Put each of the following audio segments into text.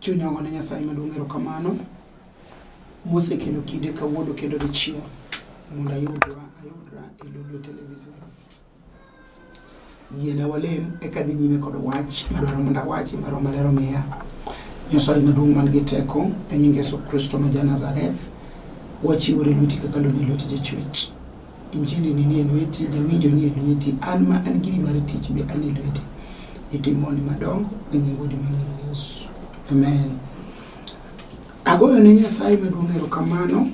chunya wane nyasaye maduong' erokamano mosekelo kinde kawuono kendo dichiel mondo ayudra ayudra e lolwe television yiena walem eka dhi nyime kod wach madwaro mondo awachi maro maler omiya nyasaye maduong' man gi teko e nying yesu kristo ma ja nazareth wachiwore lweti kaka loni lweti jachwech injili ni nie lweti jawinjo nie lweti an ma an giri mar tich be an e lweti itimoni madongo e nying wodi maler yesu amen Agoyo ne Nyasaye maduong' erokamano.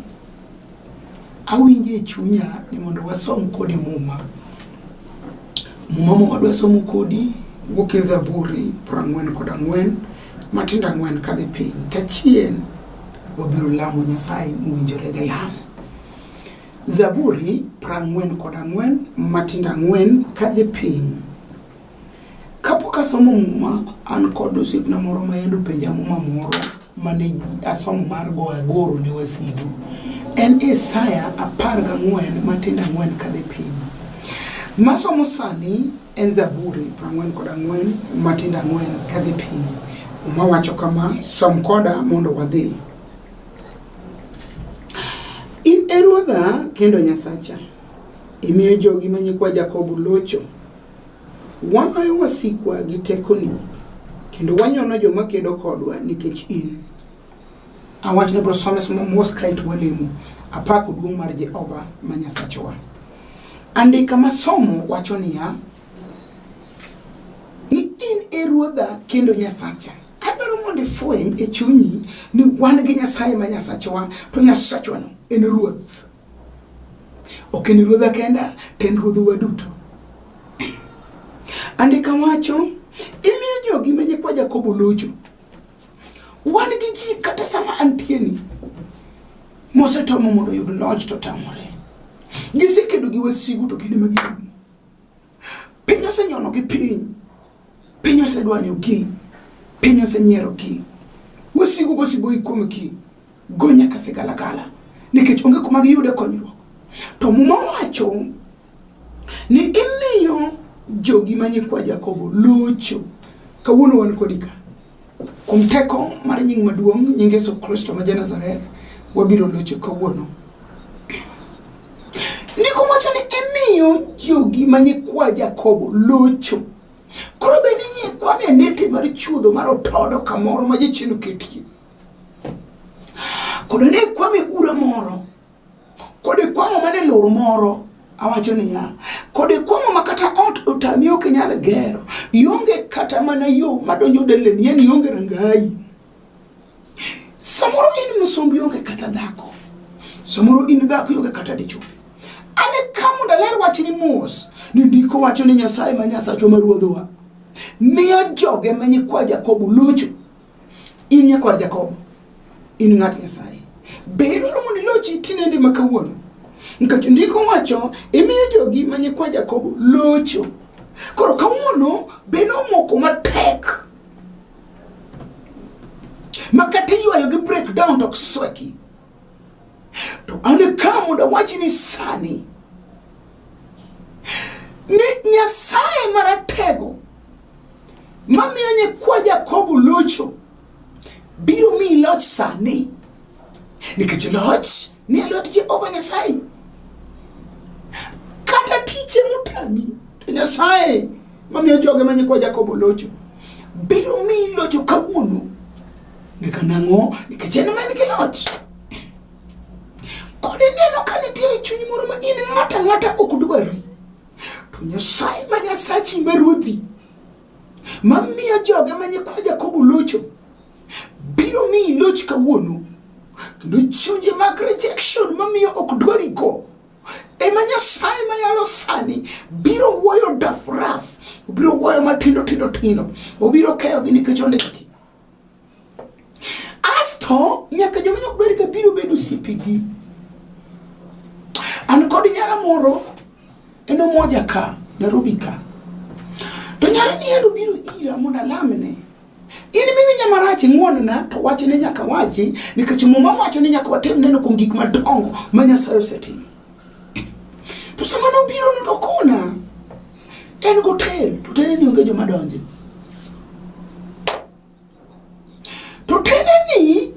Awinjo e chunya ni mondo wasom kodi Muma. Muma ma wadwa somo kodi wuok e Zaburi prang'wen kod ang'wen matindo ang'wen kadhi piny. Tachien wabiro lamo Nyasaye mowinjore gi lamo. Zaburi prang'wen kod ang'wen matindo ang'wen kadhi piny. Kapok asomo muma, an kod osiepna moro ma yande openja muma moro mane asomo mar go agoro ne wasigu. En Isaya apar gang'wen matindo ang'wen kadhi piny. Masomo sani en Zaburi prang'wen kod ang'wen matindo ang'wen kadhi piny. Muma wacho kama, som koda mondo wadhi. In e Ruodha kendo Nyasacha, imiyo jogi ma nyikwa Jakobo locho. Waloyo wasikwa gi tekoni, kendo wanyono joma kedo kodwa nikech in. Awach ni bro some somo mos kae to walemo. Apako duong' mar Jehova ma Nyasachwa. Andika ma somo wacho niya, ni in e ruodha kendo Nyasacha. Adwaro mondo ifweny e chunyi ni wan gi Nyasaye ma Nyasachwa, to Nyasachwano en ruoth. ok en ruodha kenda to en ruodhwa duto andika wacho imiyo jogi ma nyikwa jakobo locho wan gi ji kata sama antieni mosetomo mondo oyud loch to tamore gisekedo gi wasigu to kinde ma girumo piny osenyono gi piny piny osedwanyo gi piny osenyiero gi wasigu gosigo ikuom gi go nyaka sigalagala nikech onge kuma giyude konyruok to muma wacho ni imiyo jogi manyikwa jakobo locho kawuono wan kodi ka Kuom teko mar nying maduong' nying Yesu Kristo ma Janazareth, wabiro locho kawuono. Ndiko wacho ni imiyo jogi ma nyikwa Jakobo locho. Koro be ni nyikwa ne neti mar chuodho mar otodo kamoro ma jachien oketie. Kodo ne kwame ura moro Kod ikwang'o mana e lor moro awacho niya kod ikwang'o ma kata ot otami ok inyal gero ionge kata mana yo madonjo deleni yani ionge rangayi samoro in msumbi ionge kata dhako samoro in dhako ionge kata dichwo ane ka mondo aler wachni mos ni ndiko wacho ni nyasaye ma nyasachwa ma ruodhowa miyo joge ma nyikwa jakobo locho In nyakwar Jakobo, in ng'at Nyasaye. Be idwaro mondo ilochi tinende ma kawuono? Nikech ndiko wacho, imiyo jogi ma nyikwa Jakobo locho. Koro kawuono be nomoko matek ma kata iywayo gi breakdown to ok sweki. To an ka mondo awachi ni sani ni Nyasaye maratego mamiyo nyikwa Jakobo locho biro miyi loch sani nikech loch ni e lwet Jehova Nyasaye kata tije motami to Nyasaye mamiyo joge ma nyikwa Jakobo locho biro miyi locho kawuono nika nang'o nikech en man gi loch kod ineno ka nitiere chuny moro ma in ng'ata ng'ata ok dwari to nyasaye ma nyasachi ma ruodhi mamiyo joge ma nyikwa Jakobo locho biro miyi loch kawuono kendo chunje mag rejection mamiyo ok dwari go ema nyasaye mayalo sani biro wuoyo dafraf obiro wuoyo matindo tindo tindo obiro keyogi nikech ondiki asto nyaka joma nyok ber ka biro bedo osipigi an kod nyara moro en omoja ka nairobi ka to nyara ni en obiro ira mondo alamne In miwinja marach ing'wonna to wachne nyaka wachi nikech muma wacho ni nyaka watim neno kuom gik madongo ma Nyasaye osetimo. To sama nobiro ni to kona en gotel to tene ni onge joma donje. To tene ni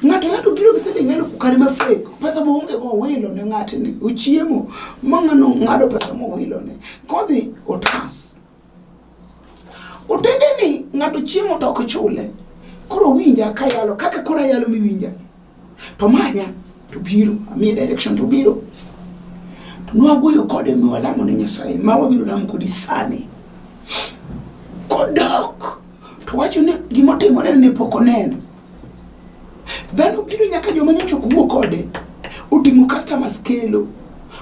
ng'ato yado biro gi siling elufu kare ma fake pesa bo onge go owilo ne ng'atni ochiemo ma ng'ano ng'ado pesa mowilo ne kodhi otas otende ni ng'ato chiemo to ok chule koro winja kayalo kaka koro ayalo miwinja to manya to biro amiye direction to biro to nwawuoyo kode mi walamo ne nyasaye ma wabiro lamo kodi sani kodok to wacho ni gimotimore ne pok oneno dhano biro nyaka joma nyocha ok wuo kode oting'o customers kelo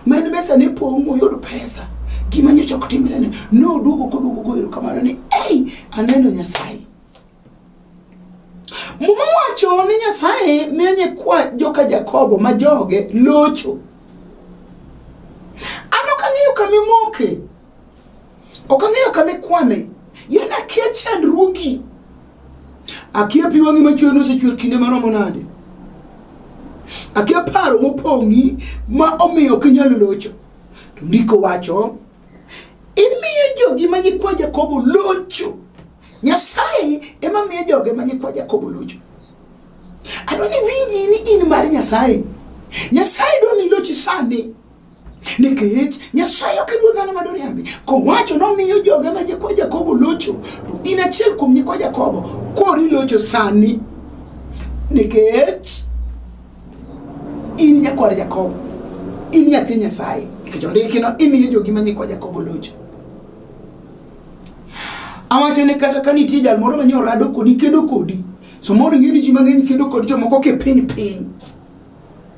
ma en mesa ne pong' moyudo pesa gima nyocha ok timre ne ne oduogo koduogo goero kamano ni ei aneno nyasaye muma wacho ni nyasaye miyo nyikwa joka jakobo ma joge locho an ok ang'eyo kama imoke Ok ang'eyo kama ikwane. Yena akia chandruogi. Akia pi wang'i machwer nosechwer kinde maromo nade. Akia paro mopong'i ma omiyo ok inyal locho. To ndiko wacho, imiyo jogi ma nyikwa Jakobo locho. Nyasaye ema miyo joge ma nyikwa Jakobo locho. Adwa ni winji ni in mar Nyasaye. Nyasaye dwa ni ilochi sani. nikech nyasaye ok en wuod dhano ma doriambi kowacho nomiyo joge ma nyikwa jakobo locho to in achiel kuom nyikwa jakobo kori locho sani nikech in nyakwar jakobo in nyathi nyasaye nikech ondikino imiyo jogi ma nyikwa jakobo locho awacho ni kata ka nitie jal moro manyalo rado kodi kedo kodi samoro ing'e ni ji mang'eny kedo kod jomoko kipiny piny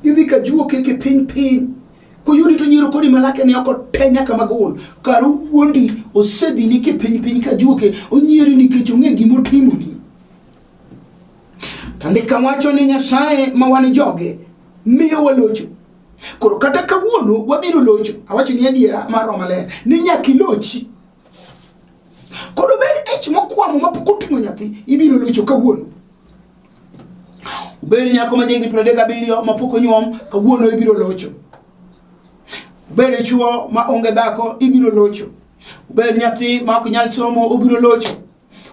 Idhi ka juo keke piny piny. Koyudi to nyiro kodi malake ni oko te nyaka magol. Karu wuondi osedhi ni ke piny piny ka juo ke onyiri ni kecho ng'e gimo timo ni. Tandika wacho ni nyasaye ma wan joge miyo walocho. Koro kata kawuono wabiro locho. Awacho ni adiera mar Roma ler. Ni nyaki lochi. Koro ber ech mokwamo mapok oting'o nyathi ibiro locho kawuono. Obed nyako ma jahigni piero adek gabiriyo ma pok onyuom, kawuono ibiro locho. Obed chuo ma onge dhako, ibiro locho. Obed nyathi ma ok nyal somo, obiro locho.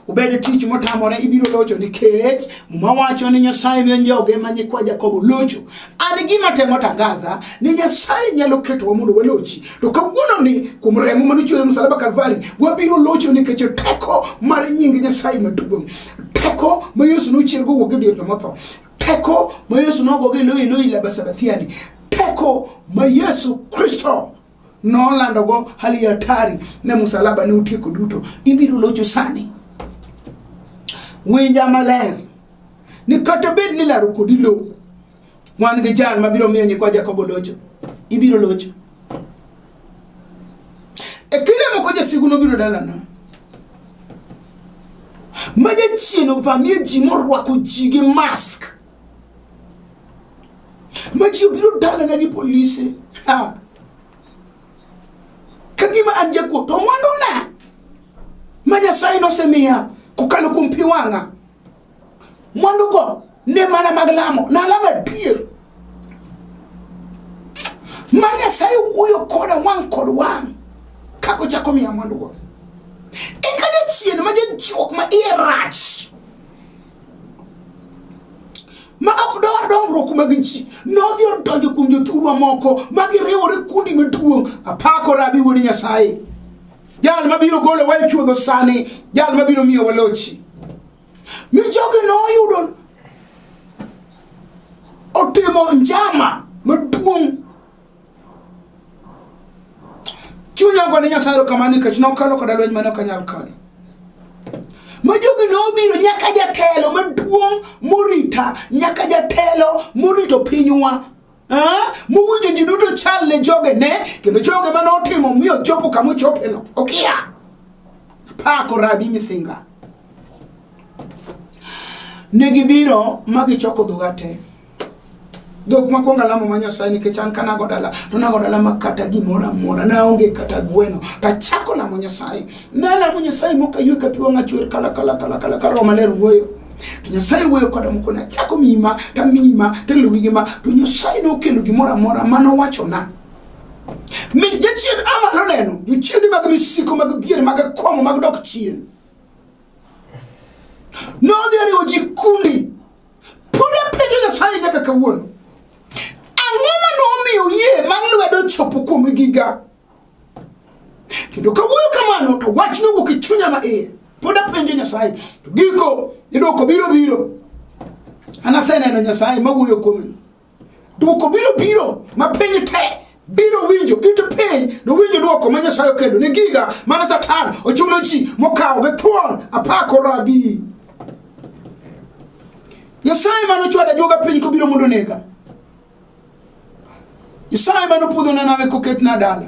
Obed tich motamore, ibiro locho nikech Muma wacho ni Nyasaye miyo joge ma nyikwa Jakobo locho. An gima temo tangaza ni Nyasaye nyalo ketowa mondo walochi. To kawuono ni kuom remo manochwere msalaba Kalvari, wabiro locho nikech teko mar nying Nyasaye maduong'. teko ma yesu nochier kowuok e dier jomotho teko ma yesu nogogo e loyi loyi labasabathiani teko ma yesu kristo nolandogo hali ya hatari ne musalaba ne otieko duto ibiro locho sani winja maler ni kata bed ni laro kodi lowo Wan gi jal ma biro miyo nyikwa Jakobo locho. Ibiro locho. E kinde moko jasigu nobiro dalana. Ma jachien ovamie ji morwako ji gi mask. Ma ji obiro dalana gi polise. Ha. Ka gima an jakuo to mwanduna ma Nyasaye nosemiya kokalo kuom pi wang'a. mwandugo ne mana mag lamo nalamo adier ma nyasaye wuoyo koda wang' kod wang' kaka ochako miya mwandugo eka jachien ma jajuok ma iye rach ma ok dwar dongruok mag ji nodhi odonjo kuom jothurwa moko ma giriwore kundi maduong' apako rabi wuod nyasaye jal mabiro golo wae chuodho sani jal mabiro miyo walochi Mi jogi noyudo otimo njama maduong' chunya ogo ne nyasaye erokamano nikech nokalo koda lweny mane ok anyal kalo ma jogi nobiro nyaka jatelo maduong' morita nyaka jatelo morito pinywa Ah, muwinjo ji duto chal ne joge ne kendo joge mane otimo mi ochopo kama ochopeno okiya pako rabi misinga ne gibiro ma gichoko dhoga te dhok makwongo alamo ma nyasaye nikech an ka nago dala to nago dala ma kata gimoro amora naonge kata gweno tachako lamo nyasaye nalamo nyasaye mokaywe ka pi wang'a chwer kala kala kala kala ka roho maler wuoyo to nyasaye wuoyo koda mokona achako miyi ma tamiyi ma taluwi gi ma to nyasaye nokelo gimoro amora ma nowachona mit jachien amalo neno jochiende mag misiko mag dhier mag akwamo mag dok chien nodhi ariwo ji kundi pod apenjo nyasaye nyaka kawuono ang'o ma nomiyo yie mar lwedo chopo kuom giga kendo kawuoyo kamano to wach nowuok e chunya ma iye pod apenjo nyasaye to giko idwoko biro biro an aseneno nyasaye mawuoyo kuomeno dwoko biro biro ma piny te biro winjo it piny nowinjo dwoko ma nyasaye okelo ne giga mana satan ochuno ji mokawo gi thuon apako rabi nyasaye mane ochwada joga piny kobiro mondo nega Nyasaye mane opudhona nawe koketna dala.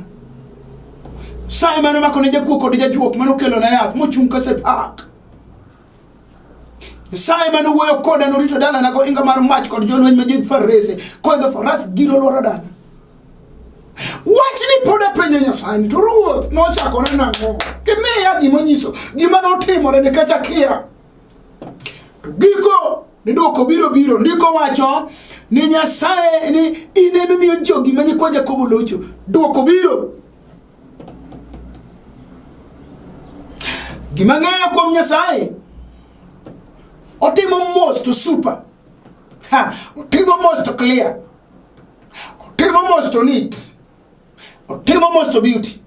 Nyasaye mane omakone jakuo kod jajuok mane okelona yath mochung' ka sepak. Nyasaye mane owuoyo koda norito dalana gohinga mar mach kod jolweny ma jidh farese koidho faras giro lworo dala. Wachni pod apenjo Nyasaye to ruoth nochakore nang'o? Gimiya gima onyiso gima notimore nikech akia. To giko ni dwoko biro biro, ndiko wacho ni Nyasaye ni in ema imiyo jogi ma nyikwa Jakobo locho. Dwoko biro. Gima ng'eyo kuom Nyasaye otimo mos to super. Ha, otimo mos to clear. Otimo mos to neat. otimo most of beauty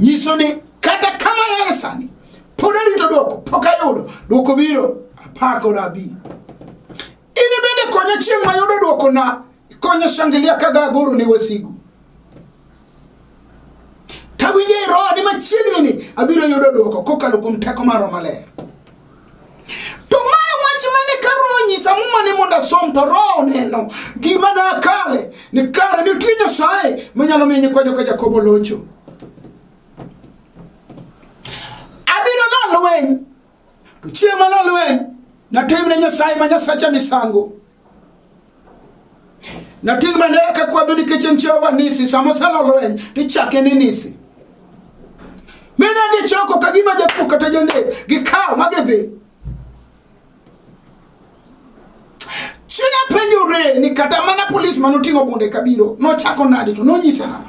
nyiso ni kata kama yare sani pod arito dwoko pok ayudo dwoko biro apako rabi in bende konya chieng' mayudo dwoko na konya shangilia kaga agoro ne wasigu tawinjo e roho ni machiegni ni abiro yudo dwoko kokalo kuom teko maro maler To mae wach mane ka Roho onyisa muma ni mondo asom to Roho oneno gima na kare ni kare nitie Nyasaye manyalo miyo nyikwa joka Jakobo locho. Abiro lo lweny to chieng' ma lo lweny natimne Nyasaye ma Nyasacha misango. Nating' bandera ka kwadho nikech en Jehova Nisi, sama osalo lweny to ichake ni Nisi. Mine gichoko ka gima jakuo kata janek gikawo ma gidhi. Chunya penjore ni kata mana polis ma noting'o bunde kabiro nochako nade to nonyise nade.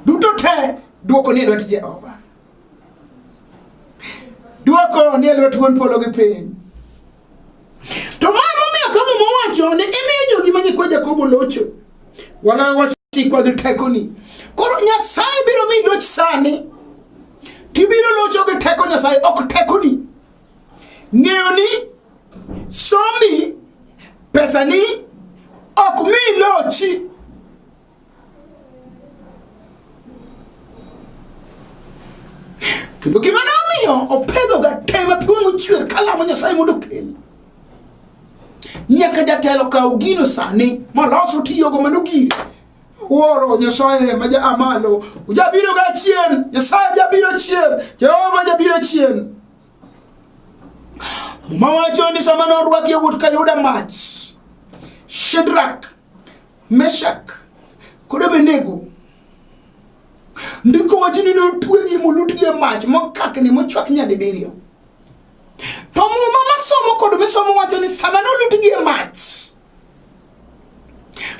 Duto te dwoko ni e lwet Jehova. Dwoko ni e lwet wuon polo gi piny. To ma momiyo ka muma wacho ni imiyo jogi ma nyikwa Jakobo locho. Wala wasikwa gi tekoni. Koro Nyasaye biro mi loch sani. Tibiro locho gi teko Nyasaye ok tekoni. Ng'eyo ni sombi pesani ok mi lochi. kendo gima ne omiyo opedhoga tema pi wang' ochwer kalamo nyasaye mondo okel nyaka jatelo kaw gino sani molos otiyogo mano gire wuoro nyasaye ma ja amalo ujabiro ga chien nyasaye jabiro chien jehova jabiro chien muma wacho ni sama norwaki yawuot ka yuda mach shedrak meshak kod abenego ndiko wacho ni notwegi molutgi e mach mokakni mochwak nyadibiriyo to muma masomo kod misomo wacho ni sama nolutgi e mach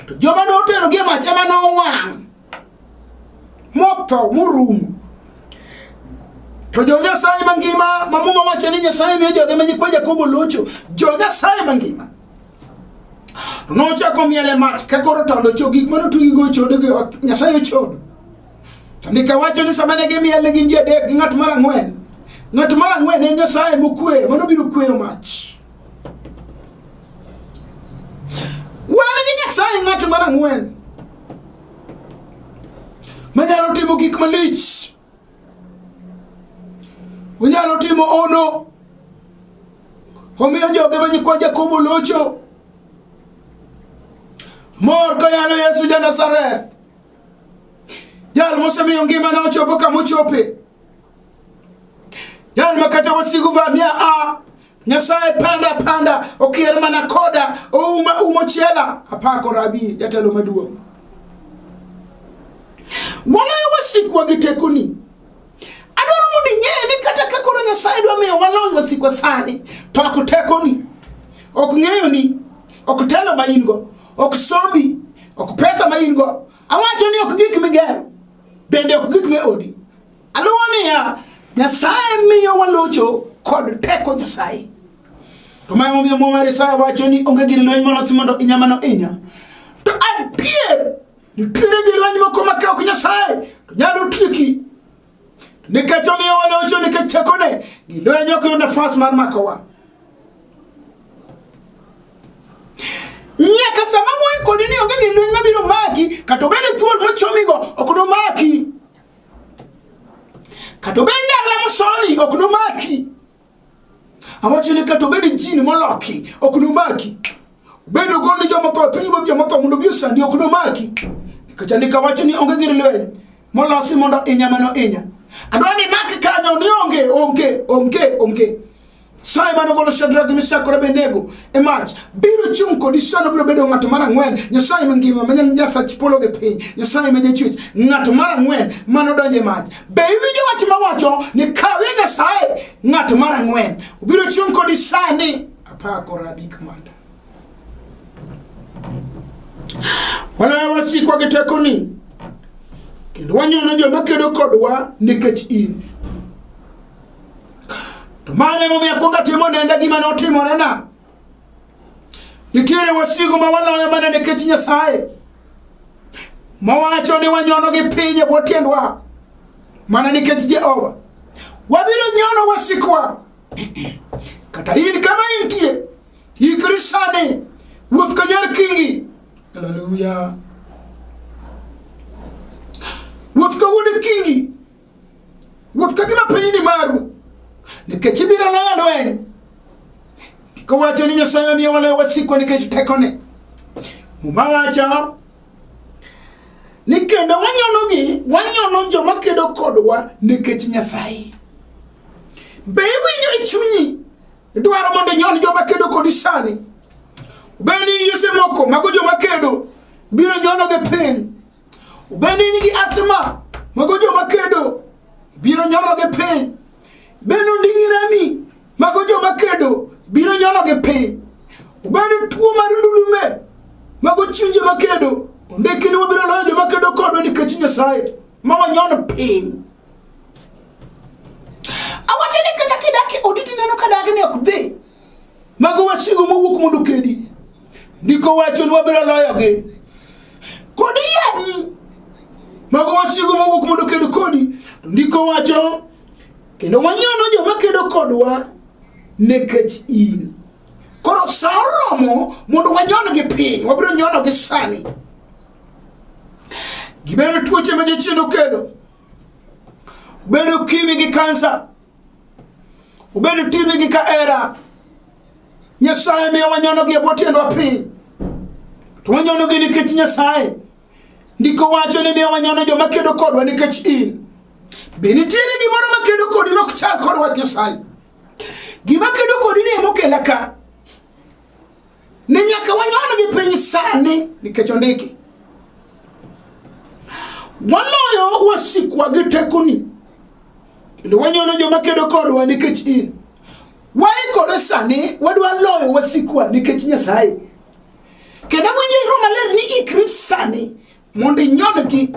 to joma noterogi e mach ema nowang' motho morumo to jo nyasaye mangima ma muma wacho ni nyasaye miyo joge ma nyikwa jakobo locho jo nyasaye mangima to nochako miele mach ka koro tondo cho gik mane otugigo ochodo gi nyasaye ochodo to ndika wacho ni sama ne gimiele gin ji adek gi ng'at mar ang'wen ng'at mar ang'wen en nyasaye mokweyo mano biro kweyo mach wan gi nyasaye ng'at mar ang'wen manyalo timo gik malich onyalo timo ono omiyo joge ma nyikwa jakobo locho mor koyalo yesu ja nazareth jal mosemiyo ngimane ochopo kamochope jal ma kata wasigu vamia a Nyasaye panda panda okier mana koda ouma umo chela apako rabi jatelo maduong' waloyo wasikwa gi tekoni adwaro mondo ing'e ni kata ka koro nyasaye dwa miyo waloyo wasikwa sani to ok tekoni ok ng'eyo ni ok telo ma in go ok sombi ok pesa ma in go awacho ni ok gik migero bende ok gik me odi Aluwo niya, Nyasaye miyo walocho kod teko Nyasaye. To ma emomiyo Muma mar Isaya wacho ni onge gir lweny molosi mondo inya mano inya. To adier, nitiere gir lweny moko ma ka ok Nyasaye to nyalo tieki. To nikech omiyo walocho nikech tekone, gir lweny ok yud nafas mar makowa. Nyaka sama moikori ni onge gir lweny mabiro maki, kata obed thuol mochomigo ok nomaki. kata obed ni alamo soni ok nomaki awacho ni kata obed jini moloki ok nomaki bedo gol ni joma tho piny ruoth joma tho mondo obi osandi ok nomaki nikech andika wacho ni onge gir lweny molosi mondo inya mano inya adwa ni mak kanyo ni onge onge onge onge Saye mane ogolo Shadrach, Meshach kod Abednego e mach biro chung' kodi sano biro bedo ng'ato mar ang'wen Nyasaye mangima ma Nyasach polo gi piny Nyasaye ma jachwech ng'ato mar ang'wen mane odonjo e mach be iwinjo wach mawacho ni kawe Nyasaye ng'ato mar ang'wen obiro chung' kodi sani apako rabi kamanda walawa wasikwa gi tekoni kendo wanyono joma kedo kodwa nikech in To mano emomiyo akwongo atimo nenda gima notimorena. Nitiere wasigu ma waloyo mana nikech Nyasaye mowacho ni wanyono gi piny e bwo tiendwa mana nikech Jehova. Wabiro nyono wasikwa kata in kama intie ikri sani wuoth ka nyar kingi haleluya wuoth ka wuod kingi Ruoth kagima piny ni maru, nikech ibiro loyo lweny. Kowacho ni Nyasaye omiyo waloyo wasikwa nikech tekone. Muma wacho ni kendo wanyonogi, wanyono joma kedo kodwa nikech Nyasaye. Be iwinjo e chunyi dwaro mondo inyon joma kedo kodi sani? Be ni yuse moko mago joma kedo biro nyonogi piny? Bende in gi athma mago joma kedo biro nyono gi piny. Bende onding'i rami mago joma kedo biro nyono gi piny. Bende tuo mar ndulume mago chuny joma kedo ondiki ni wabiro loyo joma kedo kodwa nikech Nyasaye ma wanyono piny. Awacho ni kata kidaki oditi neno ka dagi ni ok dhi Mago wasigu mowuok mondo kedi. Ndiko wacho ni wabiro loyogi. Kod yanyi. Mago wasigu mowuok mondo kedi kodi. Ndiko wacho kendo wanyono joma kedo kodwa nekech in. Koro sa oromo mondo wanyon gi piny, wabiro nyono gi sani. Gibedo tuoche ma jochiendo kedo. Bedo kimi gi kansa. Obed itime gi kahera. Nyasaye miyo wanyono gi e bwo tiendwa piny. To wanyono gi nikech Nyasaye. Ndiko wacho ni miyo wanyono joma kedo kodwa nikech in. Be nitiere gimoro ma kedo kodi ma ok chal kod wach Nyasaye? Gima kedo kodi ni ema okela ka. Ni nyaka wanyon gi piny sani nikech ondiki. Waloyo wasikwa gi tekoni. Kendo wanyono joma kedo kodwa nikech in. Waikore sani wadwa loyo wasikwa nikech Nyasaye. Kendo winjo iro maler ni ikri sani mondo inyodgi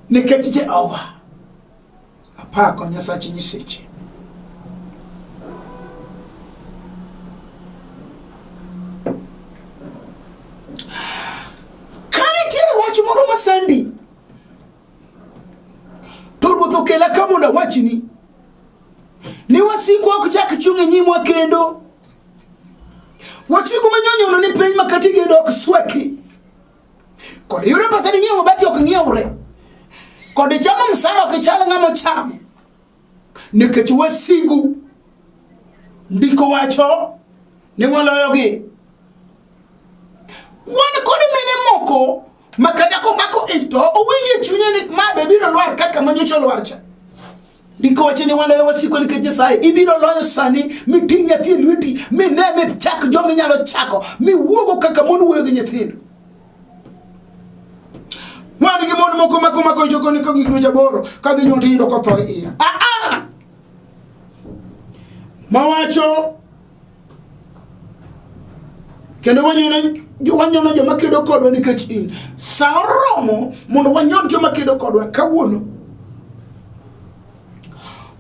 nikech Jehova. Apako Nyasach nyiseche. Kane tiere wach moro masandi, to ruoth okela ka mondo awachni ni wasiku ok chak chung' e nyimwa kendo wasiku manyonyono ni piny makatigi dok sweki Kod yudo pesa ni ng'iewo mabati ok ng'iewre. Kod chamo msara ok chal ng'ama ochamo. Nikech wasigu ndiko wacho ni waloyogi. Wan kod mine moko ma kata komako ito owinjo e chunye ni ma be biro lwar kaka manyocha olwar cha. ndiko wacho ni waloyo wasiko nikech nyasaye ibiro loyo sani miting' nyathi e lweti mine michak joma inyalo chako miwuogo kaka mon wuoyo gi nyithindo wan gi mon moko mako mako joko niko gik dweche aboro ka dhi nyuol tiyudo kotho e iya aa ah, ah! mawacho kendo wanyono joma kedo kodwa nikech in sa oromo mondo wanyon joma kedo kodwa kawuono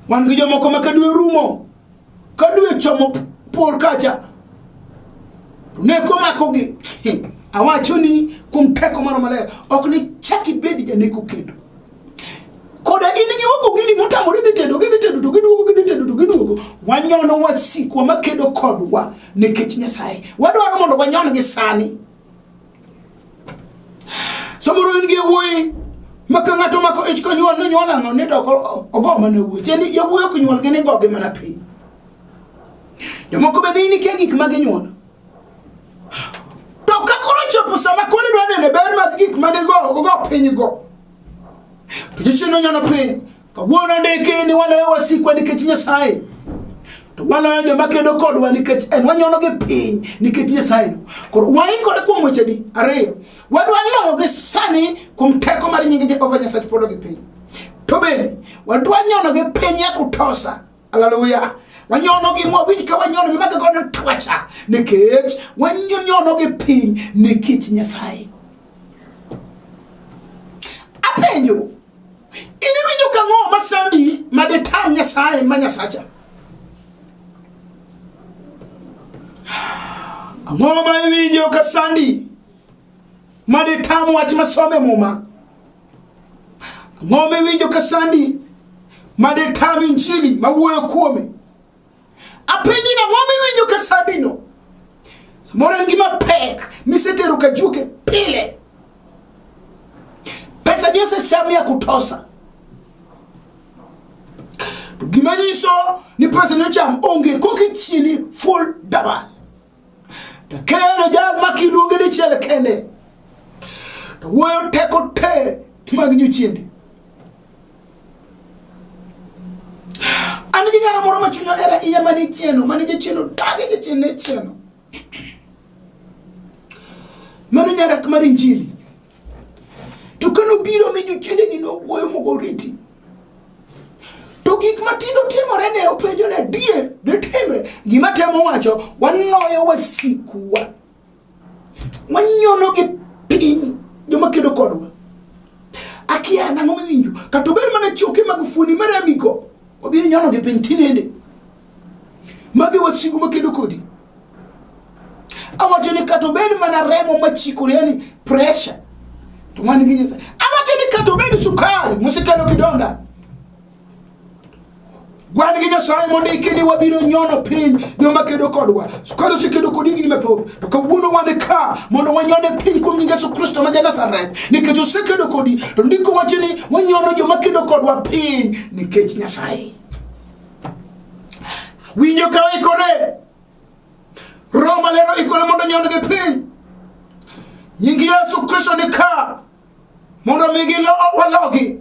wan gi jomoko ma kadwe rumo kadwe chomo por kacha to neko makogi awacho ni kuom teko moro maler ok ni chak ibed janeko kendo koda in gi wagogini motamore dhi tedo gidhi tedo to giduogo gidhi tedo to giduogo wanyono wasikwa makedo kodwa nikech nyasaye wadwaro mondo wanyon gi sani samoro in gi yawuoyi maka ng'ato mako ich konyuol nonyuol ang'o ni to ogo mana wuoyi tiende yawuoyi ok nyuol gini gogi mana piny jomoko bende nitie gik ma ginyuolo To ka koro chopo sama koro idwa nene ber mag gik mane go go piny go. To jichien nonyono piny. Kawuono ndiki ni waloyo wasikwa nikech Nyasaye. To waloyo joma kedo kodwa nikech en wanyono gi piny nikech Nyasaye. Koro waikore kuom weche di ariyo. Wadwa loyo gi sani kuom teko mar nying Jehova Nyasaye polo gi piny. To bende wadwa nyono gi piny ya kutosa. Hallelujah. wanyonogi mwawinj ka wanyonogi maga godo twacha nikech wanyonogi piny ne kit nyasaye apenjo in iwinjo ka ng'o masandi madetam nyasaye ma nyasacha ang'o ma iwinjo ka sandi maditam wach masome muma ang'o miwinjo ka sandi maditam injili mawuoyo kuome apenji na ang'o miwinjo ka sandino samoro en gima pek misetero ka juke pile pesa ni osecham ya kutosa to gima nyiso ni pesa ni ocham onge kokichieni full dabal To kendo jal ma kiluonge dichiel kende to wuoyo teko te mag nyochiende. An gi nyara moro ma chunya era iya mane chieno, mane jachieno tage jachieno ne chieno. Mano nyara mar Injili. to kane obiro mi jochiendegi nowuoyo mogo oriti to gik matindo timore ne openjo ne adier ditimre gima temo wacho wanoyo wasikuwa wanyono gi piny joma kedo kodwa akia nang'o miwinjo kata obed mana choke mag fuoni mar amiko obiro nyono gi piny tinende magi wasigu makedo kodi Awacho ni kata obed mana remo machikore yani pressure to man gi Nyasaye. Awacho ni kata obed sukari musekelo kidonda. Wan gi Nyasaye mondiki ni wabiro nyono piny joma kedo kodwa. Sukari osekedo kodi higni mathoth, to kawuono wan ka mondo wanyone piny kuom nying Yesu Kristo ma Janazareth, nikech osekedo kodi, to ndiko wacho ni wanyono joma kedo kodwa piny nikech Nyasaye. winjo ka oikore roho maler oikore mondo onyond gi piny nying yesu kristo ni ka mondo mi walogi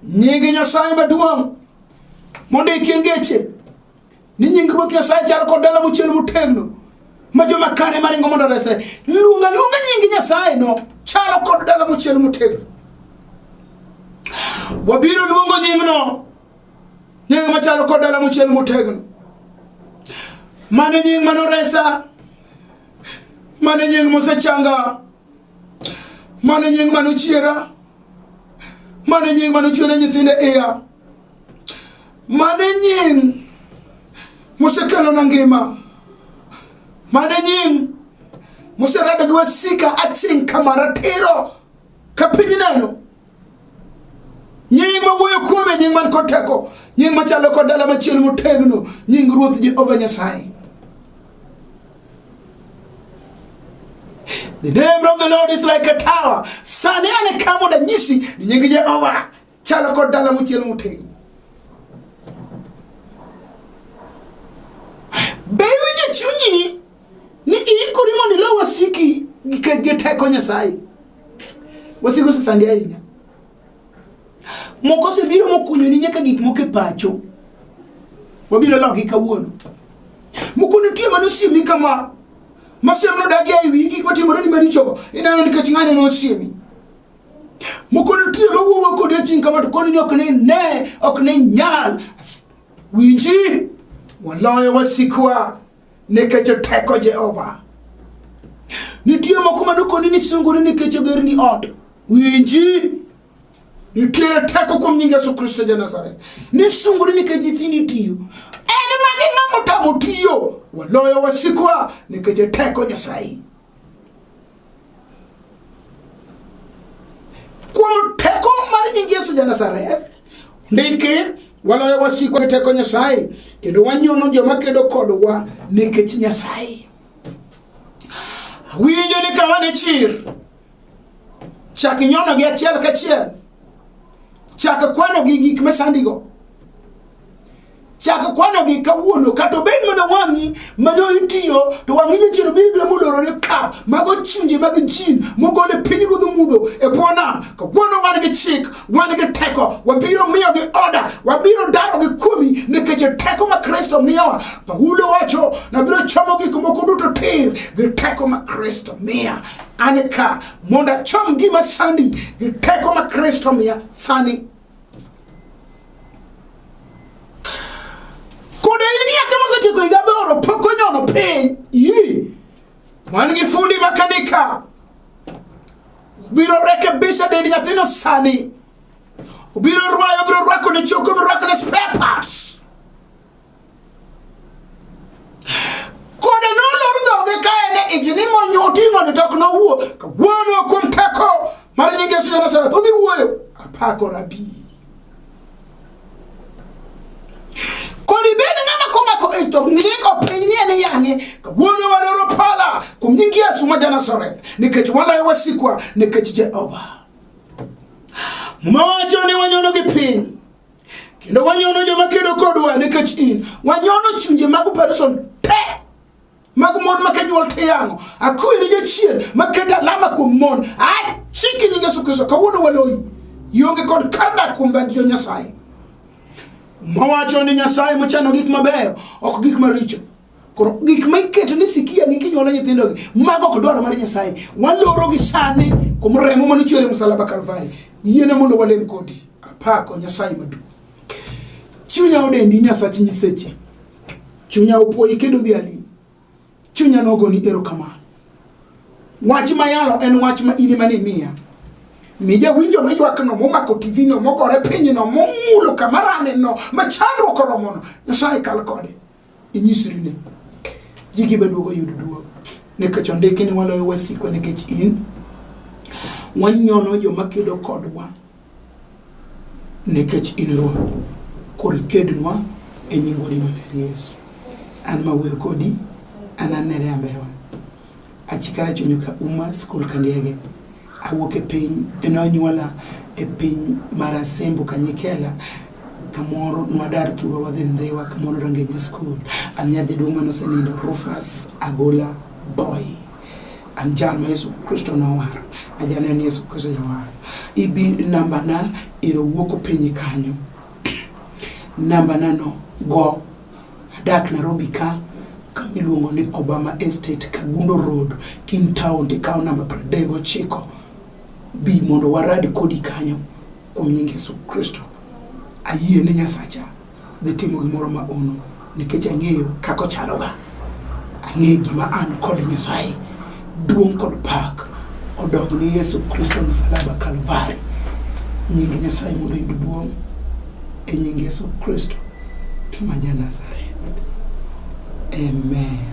nying nyasaye maduong' mondo ikie ngeche ni nying ruoth nyasaye chal kod dala mochiel motegno ma joma kare maringo mondo resre luonga luonga nying nyasaye no chalo kod dala mochiel motegno wabiro luongo nyingno nying machalo kod dala mochiel motegno mane nying manoresa mane nying mosechanga mane nying manochiera mane nying manochwene nyithinde iya mane nying mosekelona ngima mane nying moserado gi wasika aching' kama ratiro ka piny neno nying ma wuoyo kuome nying man kod teko nying machalo kod dala machielo motegno nying ruoth jehova nyasaye The name of the Lord is like a tower. Sani ane ka mondo anyisi ni nying Jehova chalo kod dala mochiel motegno. Be iwinjo chunyi ni iikori mondo ilo wasiki gi kech gi teko nyasaye wasiki osesandi ahinya moko osebiro mokunyoni nyaka gik moko e pacho wabiro logi kawuono moko nitie mane osiemi kama masiem nodagi ei wi gik matimoreni marichogo ineno nikech ng'ane nosiemi moko nitie mawuowa kodi aching kama to koni ni ok ni ne ok ni nyal winji waloyo wasikwa nikech teko jehova nitie moko manokoni ni sungori nikech ogerni ot winji nitiere teko kuom nying yesu kristo ja nazareth ni sungori nikech nyithindi tiyo en magi ng'amotamo tiyo waloyo wasikwa nikech teko nyasaye kuom teko mar nying yesu janazareth ndiki waloyo wasiko gi teko nyasaye kendo wanyono joma kedo kodwa nikech nyasaye winjo ni kama ne chir chak nyonogi achiel kachiel chak kwanogi gik masandigo chak kwanogi kawuono kata obed mana wang'i mane itiyo to wang'i jachien obiro biro molorore ka mago chunje mag jin mogol e piny ruodh mudho e bwo nam kawuono wan gi chik wan gi teko wabiro miyo gi oda wabiro daro gi kuomi nikech e teko ma kristo miyowa paulo wacho nabiro chomo gik moko duto tir gi teko ma kristo miya an ka mondo achom gima sandi gi teko ma kristo miya sani Koda in gi yake mosetieko higa aboro pok onyono piny. Yii. Wan gi fundi makanika. Biro rekebisha dend nyathino sani. Obiro rwayo, obiro rwako ne choko, obiro rwako ne spare parts. kode nolor dhoge ka en e ich ni monyoting'o ni tok nowuo ka wuono kuom teko mar nying yesu janasareth odhi wuoyo apako rabi kodi bende ng'ama komako ich to ng'iko piny ni en yang'e ka wuono wadoro pala kuom nying yesu ma janasareth nikech waloyo wasikwa nikech jehova mowacho ni wanyono gi piny kendo wanyono joma kedo kodwa nikech in wanyono chunje mag operation te mag mon ma kanyuol to yang'o akwiri jachien maketo alama kuom mon achiki nying yesu kristo kawuono waloyi ionge kod kar dak kuom dhagi jo nyasaye mawacho ni nyasaye mochano gik mabeyo ok gik maricho koro gik ma iketo ni sikia gi kinyuolo nyithindogi mago ok dwaro mar nyasaye walorogi sani kuom remo mane ochwere musalaba kalvari yiene mondo walem kodi apako nyasaye maduong' chunya odendi nyasach nyiseche chunya opuoyi kendo dhi ali chunya nogoni erokamano wach mayalo en wach ma in mane miya mi jawinjo maywakno momako tivino mogore pinyno momulo kama rameno ma chandruok oromono nyasaye kal kode inyisri ni ji gi beduogo yudo duogo nikech ondiki ni waloyo wasikwa nikech in wanyono joma kedo kodwa nikech in ruoth koro ikednwa e nying wadi maler yesu an ma wuoyo kodi an anere ambewa achikara chunyo ka uma skul ka ndege awuok e piny enonyuola e piny mar asembo kanyikela kamoro nwadar thuro wadhi ndhiwa kamoro rangenye skul an nyar jaduong' mane osenindo rufas agola boy an jal ma yesu kristo nowaro ajaneno ni yesu kristo jawaro ibi nambana iro wuok openyi kanyo nambana no go Adak Nairobi ka kama iluongo ni Obama Estate, Kagundo Road, King Town, tikawo namba pradek gochiko. Bi mondo warad kodi kanyo kuom nying Yesu Kristo. Ayie ni Nyasacha dhi timo gimoro ma ono nikech ang'eyo kaka ochaloga. Ang'eyo gima an kod Nyasaye. Duong' kod pak odog ni Yesu Kristo msalaba Kalvari. Nying Nyasaye mondo oyud duong' e nying Yesu Kristo ma ja Nazareth. Amen.